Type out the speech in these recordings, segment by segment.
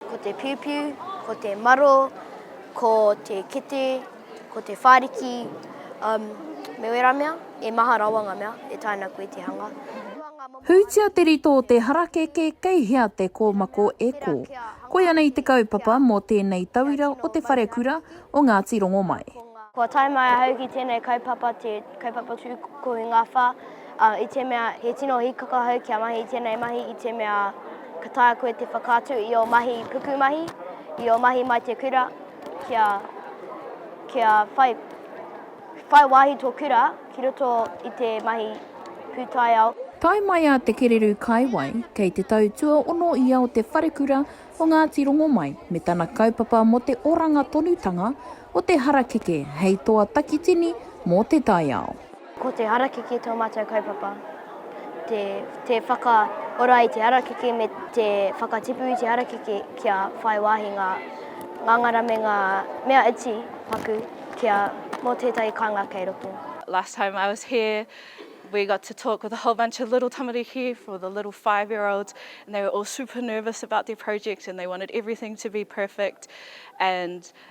Ko te piupiu, ko te maro, ko te kete, ko te whāriki, um, me wērā mea, e maha rawa ngā mea e taina koe te hanga. Hūtia te rito o te harakeke kei hea te kōmako e kō. Koia nei te kaupapa mō tēnei tauira o Te Wharekura o Ngāti Rongomai. Kua tae mai ahau ki tēnei kaupapa, te kaupapa tū kounga wha. ā, i te mea he tino hīkaka ahau kia mahi i tēnei mahi i te mea ka taea koe te whakaatu i ō mahi pukumahi, i ō mahi mai te kura, kia, kia whai, whai wāhi tō kura ki roto i te mahi pūtaiao. Tae mai a Te Kererū Kaiwai, kei te tau tuaono ia o te wharekura o Ngāti Rongomai me tana kaupapa mō te oranga tonutanga o te harakeke hei toa takitini mō te taiao. Ko te harakeke tō mātou kaupapa, te, te whakaora i te harakeke me te whakatipu i te harakeke kia whai wāhi ngā ngāngara me ngā mea iti paku kia mō tētahi kāinga kei roto. Last time I was here, we got to talk with a whole bunch of little tamariki for the little five year olds and they were all super nervous about their project and they wanted everything to be perfect and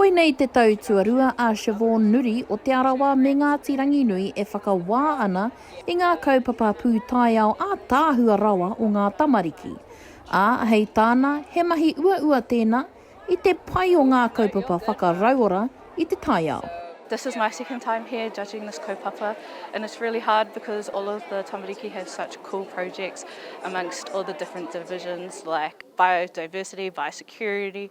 Koinei te tau tuarua a Siobhan Nuri o Te Arawa me Ngāti Ranginui e whakawā ana i ngā kaupapa pūtaiao ātaahua rawa o ngā tamariki. Ā, hei tāna, he mahi uaua tēnā i te pai o ngā kaupapa whakarauora i te taiao. This is my second time here judging this kaupapa and it's really hard because all of the tamariki have such cool projects amongst all the different divisions like biodiversity, biosecurity,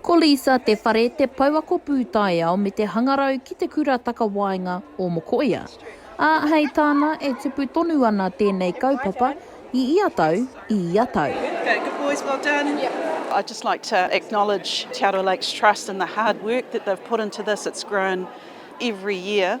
Ko Lisa Te Whare te pouako pūtaiao me te hangarau ki Te Kura Takawaenga o Mokoia. Ā, hei tāna, e tupu tonu ana tēnei kaupapa i ia tau, i ia tau. Good work, good boys, well done. I'd just like to acknowledge Te Arawa Lakes Trust and the hard work that they've put into this, it's grown every year.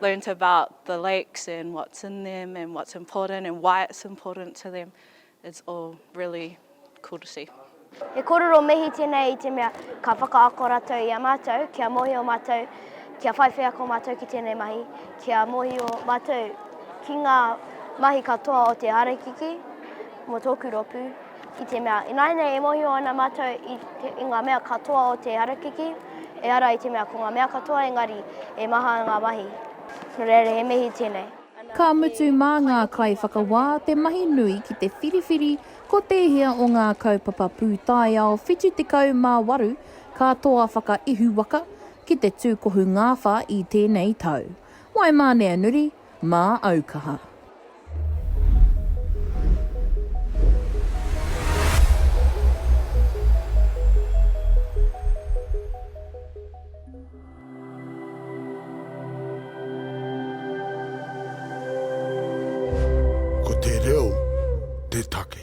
learnt about the lakes and what's in them and what's important and why it's important to them, it's all really cool to see. He korero mihi tenei i te mea ka whakaako ratou i a matou kia mohio matou kia whai wheako matou ki tenei mahi, kia mohio matou ki nga mahi katoa o te harakiki mo toku ropu. I te mea, ināianei e mōhio ana mātou i, te, i ngā mea katoa o te harakeke, e ara i te mea ko ngā mea katoa engari e maha ngā mahi. Nō reira he mihi tēnei. Ka mutu mā ngā kaiwhakawā te mahi nui ki te whiriwhiri ko tēhea o ngā kaupapa pūtaiao 78 ka toa whakaihuwaka ki te tūkohu ngāwhā i tēnei tau. Waimāneanuri. Mā au kaha. Ko te reo te take.